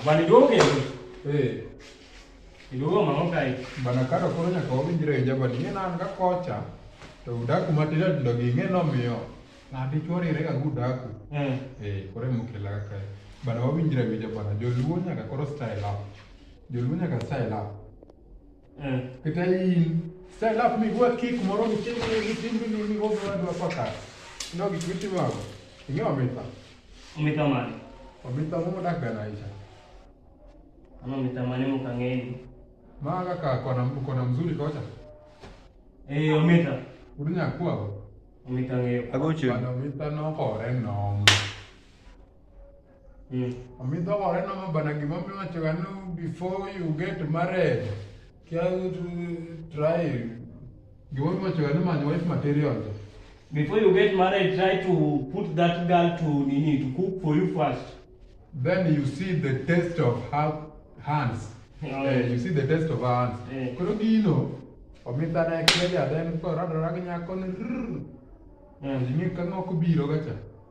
Bana duogo eh. Iduogo mang'o kae? Bana karo koro nyaka wawinjre e jabani ing'e nan ka kocha to udaku matindo tindo gi ing'e nomiyo ng'ato ichwo rire ga udaku. Eh. Eh, koro emokela ka kae. Bana wawinjre e jabana joluo nyaka koro style up. Joluo nyaka style up. Eh. Kata in style up mi gwa kick moro ni chini ni chini ni ni gogo na dwa paka. No gi kwiti mago. Inyo amita. Umita mani. Amita mo dak bana isha. Ama umita mani mo kangeni. Maga ka kona kona mzuri kocha. Eh umita. Udunya kwa bo. Umita ngeyo. Agochu. Bana umita no kore no. Mm. Omi dho gore nomo bana gima omi wacho ga ni before you get married, kia try gima omi wacho ga ni manyo wife material. Before you get married, try to put that girl to nini to cook for you first. Then you see the taste of her hands. Yeah. Uh, eh, you see the taste of her hands. Yeah. Koro gino omi dhano ekele jaden koro radora gi nyako ni rrr. Yeah. Jimi kang'ok biro gacha.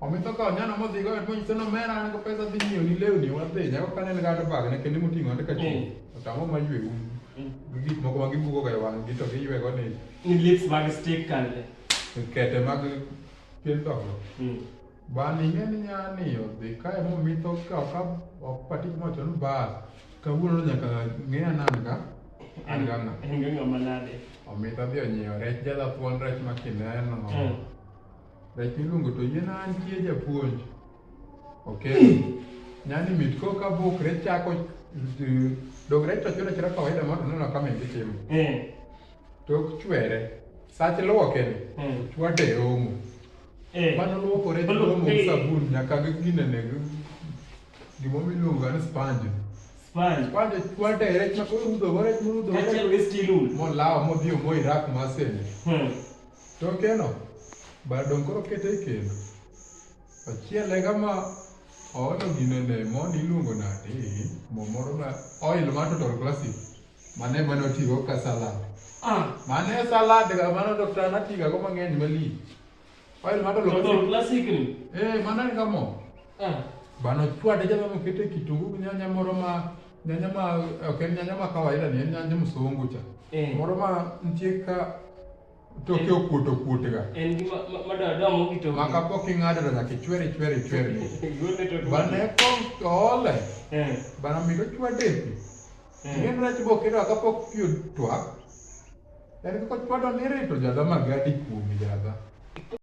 Omitoka onyana mothigo et monyiso no mera an go pesa dhi nyiewo ni lewni wadhi nyako kane ni gato bag ne kendo moting'o ande ka chung otamo ma ywe un gik moko ma gibugo ga e wang' gi to giywego ni Ni lips mag stick kande. kete mag pien dhokno bani ing'e ni nyani odhi kae momitho ka oka opati mocho ni bas kawuono no nyaka ng'e anan ka an ga ng'a En ga ng'ama nade. omitho dhi onyiewo rech jadha thuon rech ma kineno Mm. Rech miluongo to yien antie japuonj. Ok. Nyani mit ko ka buk rech chako dog rech to chura chura kawaida mondo neno kama ingi timo. Eh. Tok chwere. Sach luoke ni. Eh. Chwade omo. Eh. Mano luoko rech omo eh. sabun nyaka gi gine ne gimo miluongo ni sponge. Sponge. Sponge chwade rech ma ko rudo rech murudo. Achiel gi stilun. Molawo modhi omo irak masene. Hmm. Tokeno, bado dong' koro kete e kendo. Ochiele kama oolo gine ne mon iluongo nade? Mo moro ma oil ma total classic. Mane mane otigo ka salad. Ah, Mane salad ga mano dokta natiga go mang'eny mali. Oil ma total total classic. classic ni. Eh, mano en ga mo. Ah. Bano chwade jama mokete kitungu gi nyanya moro ma Nyanya ma ok en nyanya ma kawaida ni en nyanya msungu cha. Eh. Moro ma nitie ka toke okuot okuot ga. En gi ma da da mo kito. Ma ka pok ing'ado da nyaka chwere chwere chwere. Yone to. Bane ko ole. Eh. Bana mi ko chwade. Eh. Ng'en rach bo kiro ka pok piyo twak. En ko chwado ni rito jadha ma gadi kuomi jadha.